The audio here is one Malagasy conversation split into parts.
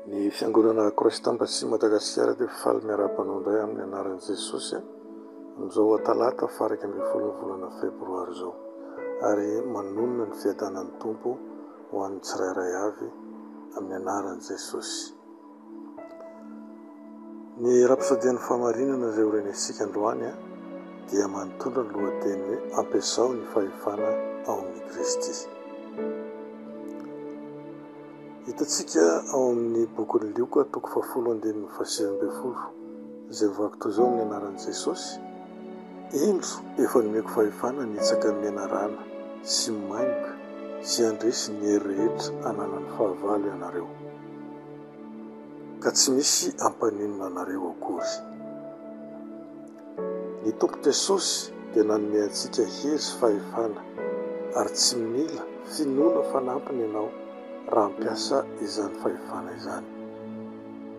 Ny fiangonana Croix Tambacy Madagasikara dia faly miara-banao indray amin'ny anaran'i Jesosy amin'izao talata fahairaika ambin'ny folon'ny volana febroary izao ary manonona ny fiadanan'ny Tompo ho an'ny tsirairay avy amin'ny anaran'i Jesosy. Ny Rapsodian'ny Fahamarinana izay horenesintsika androany dia manondro ny lohateny hoe Ampiasao ny Fahefana ao Amin'i Kristy. Hitantsika ao amin'ny bokin'i Lioka toko fahafolo andininy fahasivy ambin'ny folo izay mivaky toy izao ny anaran'i Jesosy, Indro efa nomeko fahefana hanitsaka ny menarana sy ny maimboka sy handresy ny hery rehetra ananan'ny fahavalo ianareo. ka tsy misy hampaninona anareo akory. Ny Tompo Jesosy dia nanome antsika hery sy fahefana ary tsy mila finoana fanampiny ianao raha hampiasa izany fahefana izany.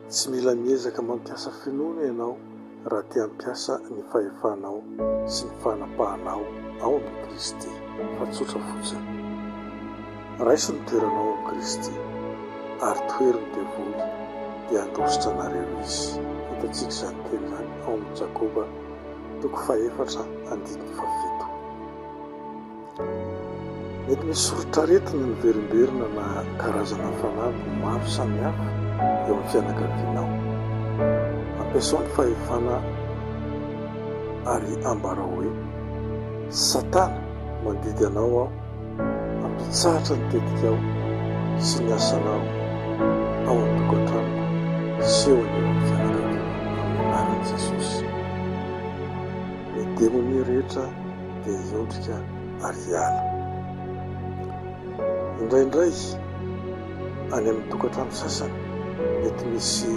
Tsy mila miezaka mampiasa finoana ianao raha te hampiasa ny fahefanao sy ny fanapahanao ao amin'i Kristy, fa tsotra fotsiny. Raiso ny toeranao amin'i Kristy, ary tohery ny devoly, dia handositra anareo izy. Hitantsika izany teny izany ao amin'ny Jakoba toko fahefatra andininy fafito. Mety misy soritr'aretina miverimberina na karazana fanamby maro samihafa eo amin'ny fianakavianao. Ampiasao ny fahefana ary ambarao hoe, Satana, mandidy anao aho hampitsahatra ny tetikao sy ny asanao ao an-tokantranoko sy eo anivon'ny fianakaviako amin'ny anaran'i Jesosy. Ny demonia rehetra dia hiondrika ary hiala. Indraindray, any amin'ny tokantrano sasany, mety misy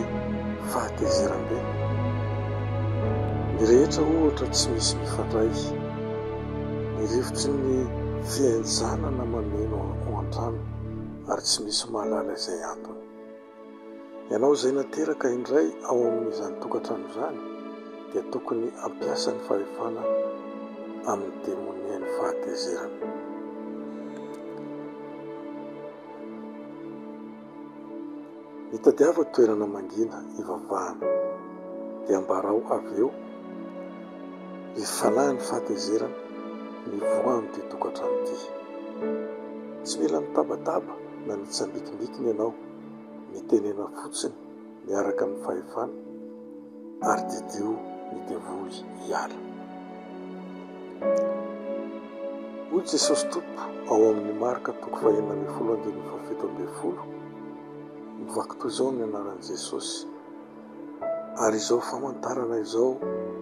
fahatezeram-be. Ny rehetra, ohatra, tsy misy mifandray. Ny rivotry ny fihenjanana mameno ao an-trano, ary tsy misy mahalala izay antony. Ianao izay nateraka indray ao amin'izany tokantrano izany dia tokony hampiasa ny fahefana amin'ny demonian'ny fahatezerana. Mitadiava toerana mangina hivavahana dia ambarao avy eo ny fanahin'ny fahatezerana mivoaha amin'ity tokantrano ity. Tsy mila mitabataba. na ny tsambikimbikiny ianao mitenena fotsiny miaraka amin'ny fahefana ary didio ny devoly hiala. Hoy Jesosy Tompo ao amin'ny Marka toko fahenina ambin'ny folo andininy fahafito ambin'ny folo, Mivaky toy izao ny anaran'i Jesosy, Ary izao famantarana izao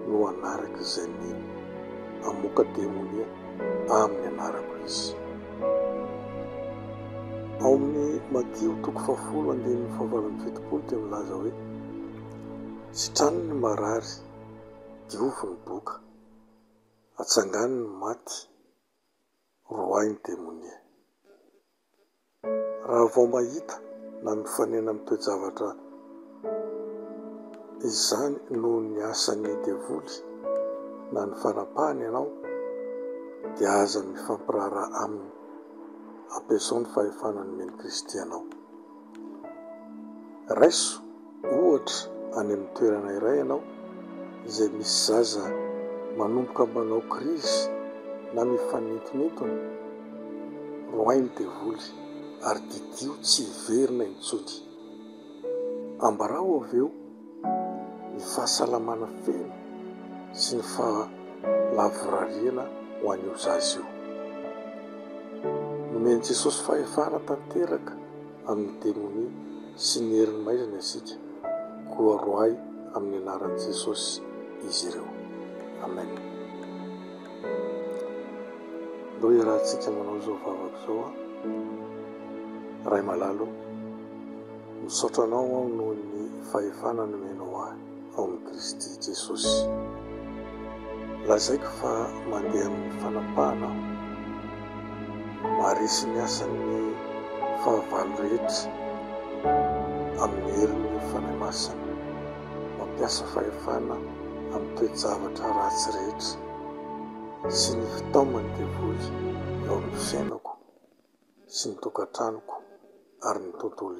no hanaraka izay mino, Hamoaka demonia amin'ny anarako izy. Ao amin'ny Matio toko fahafolo andininy fahavalo amby fitopolo dia milaza hoe, Sitrano ny marary, diovy ny boka, atsangano ny maty. Roahy ny demonia. Raha vao mahita na mifanena amin'ny toe-javatra izany noho ny asan'ny devoly na ny fanapahany ianao, dia aza mifampiraharaha aminy. Ampiasao ny fahefana nomen'i Kristy anao. Raiso ohatra any amin'ny toerana iray ianao izay misy zaza manomboka manao krizy na mifanintonintona. Roahy ny devoly ary didio tsy hiverina intsony. Ambarao avy eo ny fahasalamana feno sy ny fahalavorariana ho an'io zaza io. Nomen'i Jesosy fahefana tanteraka amin'ny demonia sy ny herin'ny maizina isika, koa roahy amin'ny anaran'i Jesosy izy ireo. Amen. Ndao hiarahantsika manao izao vavaka izao, Ray malalo. Misaotra Anao aho noho ny fahefana nomenao ahy ao amin'i Kristy Jesosy. Lazaiko fa mandeha amin'ny fanapahana aho. Maharesy ny asan'ny fahavalo rehetra amin'ny herin'ny Fanahy Masina. Mampiasa fahefana amin'ny toe-javatra ratsy rehetra sy ny fitaoman'ny devoly eo amin'ny fiainako sy ny tokantranoko ary ny tontolo